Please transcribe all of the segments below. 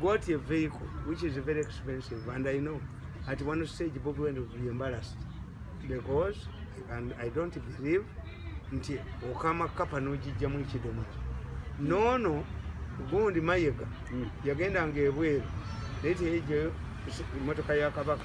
got a vehicle which is very expensive and I know at one stage Bobi Wine will be embarrassed because and I don't believe nti okama kapa nojijja mu kidomo nono gundi mayega mm. yagenda nga ebweru naye teyejeyo emotoka ya kabaka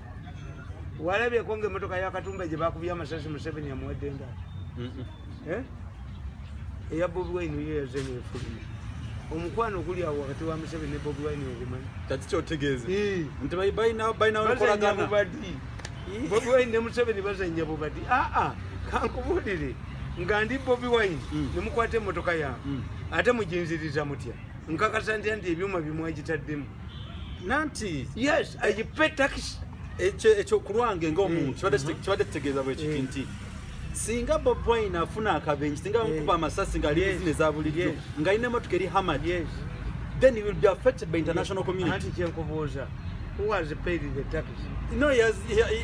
walabyeko nga emotoka yakatumba gye bakubye amasasi museveni yamuwadde nga eh? eya bobi wine yo yazemu efuluma omukwano oguli awo wakati wa museveni ne bobi wine ogumanyi kati kyotegeeza nti balinaokolagana bobi wine ne museveni bazanya bubadi aa ah, ah, kankubuulire nga ndi bobi wine mm. ne mukwata emotoka yange mm. ate mujinziriza mutya nkakasa ntya nti ebyuma bimwagitaddemu nanti yes i pay tax ekyo ekyo kulwange ngo omuntu mm. kibadde mm-hmm. kibadde tegeeza bwe kiki mm. nti singa bob wine afuna akabenji singa bamukuba amasasi nga ali zine za bulijjo nga alina emotoka eri hamad then he will be affected by international community who has paid the tax no he has, he, he,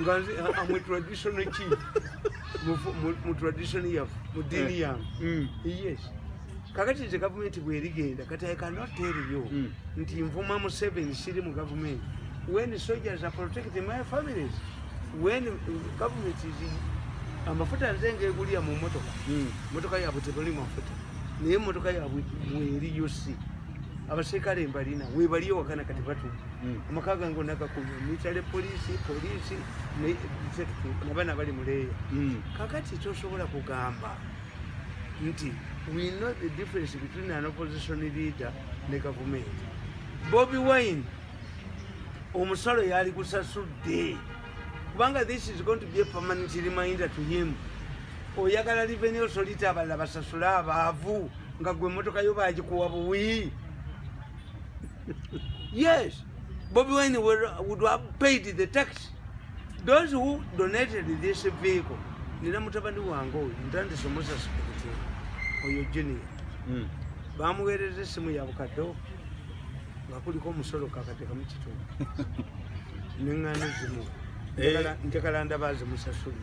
nga nze amwe traditional ki mu tradition yafe mu diini eh. yange mm. yes kakati nze gavumenti bwerigenda kati i cannot tell you mm. nti nvuma museveni siri mu gavumenti when soldiers are protecting my families when government is amafuta nze ngegulya mu motoka mm. motoka yabwe tebali mafuta naye motoka yabwe mweriyo si abaserikale mbalina webaliyo wakana kati batu hmm. amaka gange onagakunya mitale polisi polisi nabana bali muleeya hmm. kakati tosobola kugamba nti we know the difference between an opposition leader ne gavumenti bobi wine omusalo yali gusasudde kubanga this is going to be a permanent reminder to him oyagala revenue solita abalala basasule abaavu nga gwe emotoka yo bagikuwa buwi yes bobi wine would have paid the tax those who donated this vehicle nina mutabani wange oyo ntandise omusasi kukuti oyo junior hmm. bamuweereza essimu yabukaddewo nga kuliko omusolo kakatekamu kitundu neŋŋaano zimu eh. njagala ndaba zimusasuli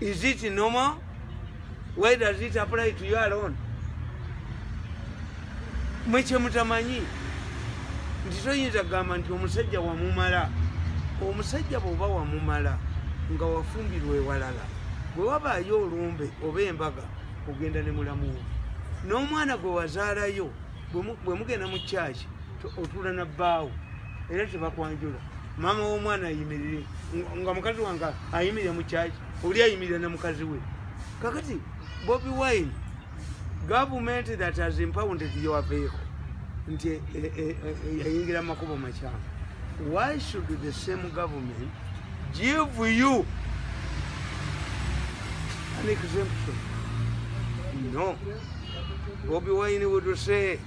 Is it normal? Why does it apply to you alone? Mwe kye mutamanyi nti toyinza kugamba nti omusajja wamumala omusajja bw'oba wamumala nga wafumbirwa ewalala bwe wabaayo olumbe oba embaga ogenda ne mulamu wo n'omwana gwe wazaalayo bwe mugenda mu kyaki otuula na bbaawo era tebakwanjula maama w'omwana ayimirire nga mukazi wange ayimirire mu kyaki oli ayimirire ne mukazi we kakati bobi wine government that has impounded your vehicle nti eh, eh, eh, yayingira mu makubo makyamu why should the same government give you an exemption no bobi wine would say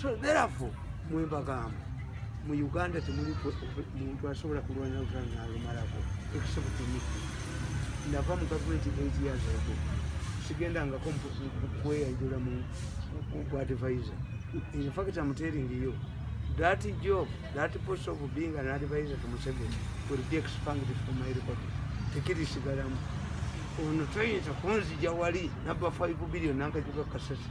so therefore mwembagamba mu uganda temuli muntu asobola kulwanira lutalo nalumalako except to me nava mu gavumenti eight years ago sigendangako kweyanjula mu advisor in fact am telling you that job that post of being an advisor to museveni will be expanded from my record tekirisigalamu ono toyinza kunzija wali naba 5 billion nankajuka kasasi